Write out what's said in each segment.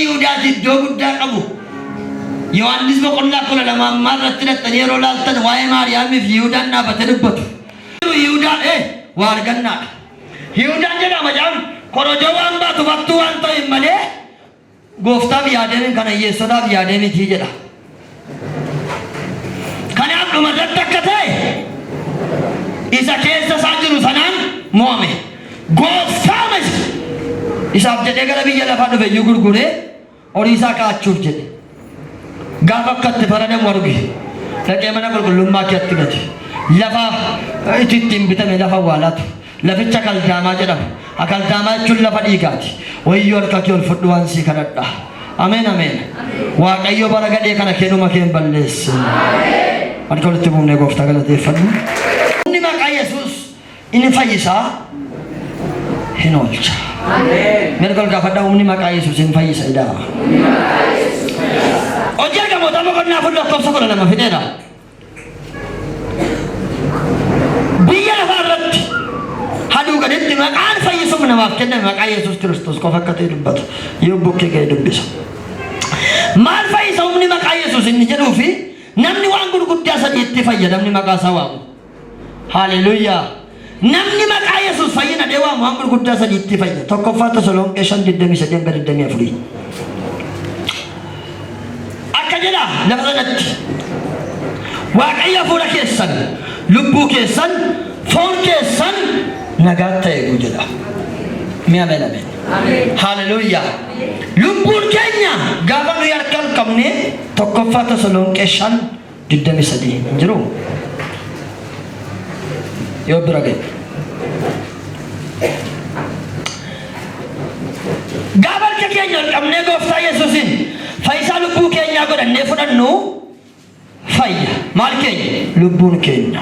Yihudaatti iddoo guddaa qabu. Yohaannis boqonnaa kudha lama ammaa irratti dhattanii yeroo laaltan waa'ee Maariyaamiif Yihudaan dhaabatee dubbatu. Yihudaan ee waa argannaadha. Yihudaan jedhama jedhan korojoo waan baatu battuu waan ta'e malee gooftaaf yaadee kana hiyyeessotaaf yaadee miti jedha. Kanaaf dhuma irratti akka ta'e isa keessa isaa jiru sanaan mo'ame. Gooftaa miti. Isaaf jedhee gara biyya lafaa dhufe iyyuu gurguree horii isaa kaa'achuuf jedhe. Gaafa akka itti faradamu arge. Dhaqee mana qulqullummaa keetti gate. Lafa itti ittiin bitame lafa awwaalaatu. Laficha Akaldaamaa jedhama. Akaldaamaa jechuun lafa dhiigaati. Wayyoo harka kee ol fudhu waan sii kadhadha. Ameen ameen. Waaqayyo bara gadhee kana kee dhuma kee hin balleessin. Harka walitti buufnee gooftaa galateeffannu. Inni maqaa Yesuus inni fayyisaa hin oolcha. Mirga ol gaafadha humni maqaa Yesuus hin fayyisa idaa. Hojii argamoota boqonnaa kun lakkoofsa kudha lama fideera. Biyya lafaa irratti haduuganitti maqaan fayyisuuf namaaf kenname maqaa Yesuus Kiristoos qofa akka ta'e dubbatu yoo bukkee ga'e dubbisa. Maal fayyisa humni maqaa Yesuus inni jedhuu fi namni waan gurguddaa sadii itti fayyadamni maqaa isaa waamu. Haaleluyyaa! Namni maqaa Yesuus fayyina jedhee waamu waan gurguddaa sadiitti fayya. 1ffaa Tasalonqee 5 23 hanga 24. Akka jedha lafa sanatti Waaqayyo hafuura keessan, lubbuu keessan, foon keessan nagaatti haa eegu jedha. Mee ameen ameen. Haleluuyaa. Lubbuun keenya gaafa nuyi harka hin qabne 1ffaa Tasalonqee 5 23 hin jiruu? Yoo bira ga'e. Gaafa harka keenya ol qabnee gooftaa Yesuusiin fayyisaa lubbuu keenyaa godhannee fudhannu fayya. Maal keenya? Lubbuun keenya.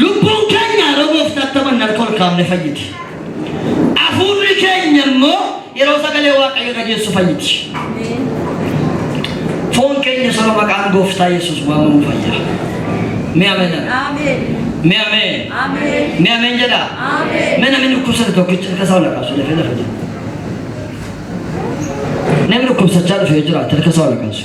Lubbuun keenya yeroo gooftaatti amanne harka ol kaafne fayyiti. Afuurri keenya immoo yeroo sagalee waaqayyo dhageessu fayyiti. Foon keenya saba maqaan gooftaa Yesuus waamamu fayya. Mee ameen jedha. Mee ameen. Mee ameen jedha. Mee namni dhukkubsate tokkicha harka isaa ol kaafsu dafee lafa jira. Namni dhukkubsachaa dhufe yoo jiraate harka isaa ol kaafsu.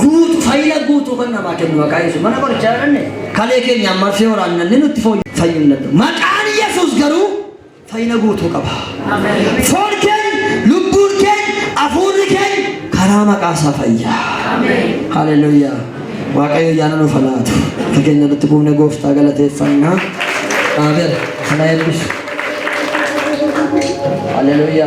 guutu fayya guutuu kan namaa kennu maqaa yesuus mana qorichaa jedhanne kalee keenya ammaa fi waraannanne nutti fooyyu fayyuu hin danda'u maqaan yesuus garuu fayyina guutuu qaba foon keenya lubbuun keenya hafuurri keenya karaa maqaa isaa fayya haleluuyaa waaqayyo yaana nuuf haa laatu fageenya nutti buufne gooftaa galateeffannaa amen kana eebbisu haleluuyaa